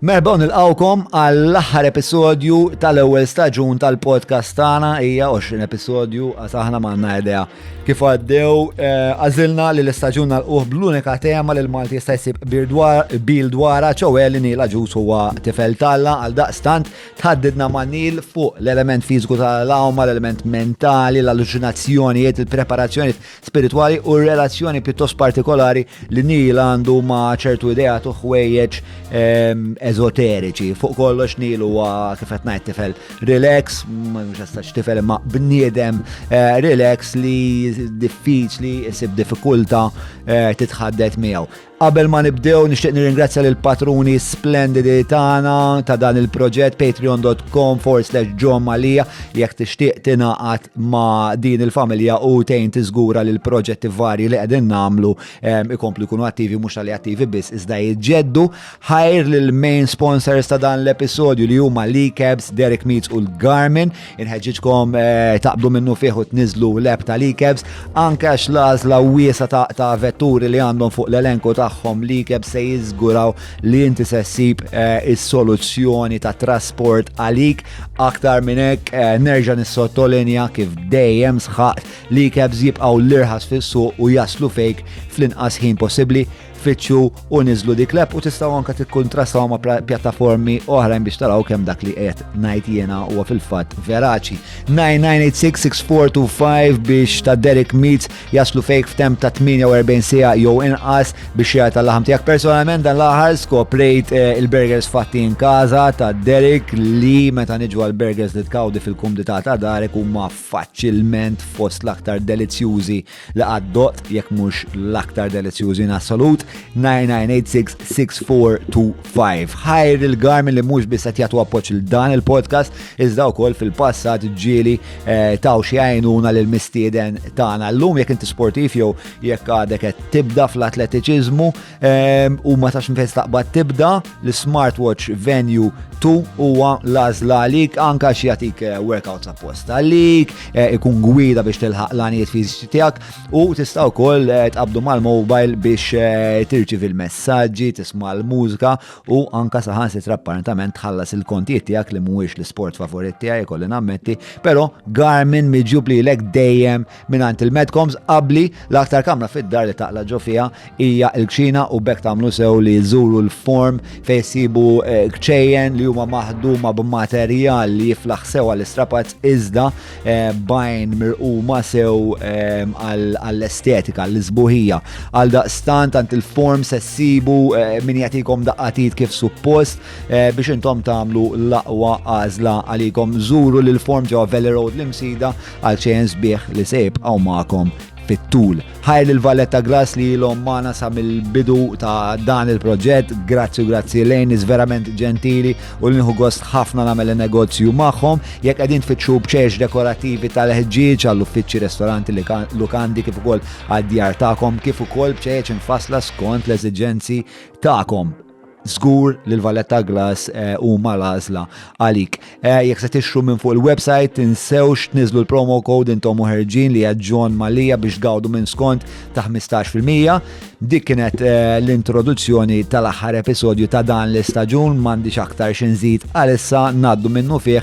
Merħba u nilqawkom għall-aħħar episodju tal-ewwel staġun tal-podcast tagħna hija 20 episodju għax aħna m'għandna idea. Kif għaddew eh, għażilna li l-istaġun nalquh bl-unika tema li l-Malti jista' jsib bil dwara ċewwe li nila ġus huwa tifel talla għal daqstant tħaddidna ma' nil fuq l-element fiżiku tal-awma, l-element mentali, l-alluċinazzjonijiet, il-preparazzjonijiet spiritwali u r-relazzjoni pjuttost partikolari li Neil għandu ma' ċertu ideat u ħwejjeġ ehm, ezoteriċi. Fuq kollox Neil huwa kif qed ngħid tifel relax, mhux jistax tifel imma bniedem eh, relax li diffiċli isib diffikulta eh, titħaddet miegħu. Qabel ma nibdew nixtieq nirringrazzja lil patruni splendidi tagħna ta' dan il-proġett patreon.com forward slash John Malija jekk tixtieq tingħaqad ma' din il-familja u tejn tiżgura li l-proġetti varji li qegħdin nagħmlu ehm, ikomplu jkunu attivi mhux tal attivi biss iżda jġeddu ħajr lil main sponsors ta' dan l-episodju li huma Lee Cabs, Derek Meats u l-Garmin Inħeġġiġkom taqbdu minnufih u tniżlu l-app tal-eCabs anke għax l-għażla wiesgħa ta' vetturi li għandhom fuq l-elenku tagħhom l-eCabs se jiżguraw li inti se ssib is-soluzzjoni ta' trasport għalik. Aktar minn hekk nerġa' nissottolinja kif dejjem sħaqt li l-eCabs jibqgħu l-irħas fis-suq u jaslu fejk fl-inqas ħin possibbli. tfittxu u niżlu dik l-app u tistgħu anke tikkuntrastaw ma' pjattaformi oħrajn biex taraw kemm dak li qed ngħid jiena huwa fil-fatt veraċi. 99866425 biex ta' Derek Meets jaslu fejk f'tem ta' 48 sija jew inqas biex jgħid tal-laħam tiegħek. Personalment dan l-aħħar skoprejt eh, il-burgers fatti in kaza ta' Derek li meta niġu għal-burgers li tkawdi fil-kumdità ta' Darek huma faċilment fost l-aktar delizzjużi li qatt doqt, jekk mhux l-aktar delizzjużi in assolut, 99866425. Ħajr il-Garmin li mhux biss qed jagħtu appoġġ il dan il-podcast, iżda wkoll fil-passat ġieli eh, taw xi għajnuna lil mistieden tagħna. Llum jekk inti sportiv jew jekk għadek qed tibda fl-atletiċiżmu, Ehm, u ma tax nfess taqbad tibda l-smartwatch venue 2 huwa lażla għalik anka xi jagħtik eh, workouts apposta għalik, eh, ikun gwida biex tilħaq l-għanijiet fiżiċi tiegħek u tista' wkoll eh, tqabdu mal-mobile biex tirċiv il-messaġġi, tisma' l-mużika u anka saħan sitra apparentament tħallas il-kontijiet tiegħek li mhuwiex l-sport favorit tiegħi kolli nammetti, però Garmin miġjub lilek dejjem Mingħand il-Medcoms qabbli l-aktar kamra fid-dar li taqla' ġo fiha hija l-kċina u b'hekk tagħmlu sew li żżuru l-form fejn issibu eh, kċejjen li huma maħduma b'materjal li jiflaħ sew għall-istrapazz iżda eh, bajn mirquma sew eh, għall-estetika, għall-isbuħija. Għal daqstant għand il-form se ssibu min jagħtikom daqqatit kif suppost biex intom tagħmlu l-aqwa għażla għalikom żuru l-form ġewwa Valley Road l-imsida għal xejn sbieħ li se jibqgħu magħkom fit-tul. Ħajr lil Valletta Grass li ilhom magħna sa mill-bidu ta' dan il-proġett, grazzi u grazzi lejn is verament ġentili u li nħu gost ħafna nagħmel negozju magħhom. Jekk qegħdin tfittxu bċeċ dekorattivi tal-ħġieġ għall-uffiċċji, restoranti, lukandi kif ukoll għad-djar tagħkom, kif ukoll bċeċ infasla skont l-eżiġenzi tagħkom. Żgur li l-Valletta Glass eh, huma l-għażla għalik. Eh, jekk se tixtru minn fuq il-website, tinsewx tniżlu l-promo code intom u ħerġin li hija John Malija biex tgawdu minn skont ta' 15%. Dik kienet eh, l-introduzzjoni tal-aħħar episodju ta' dan l-istaġun m'għandix aktar xi nżid għalissa ngħaddu minnu fih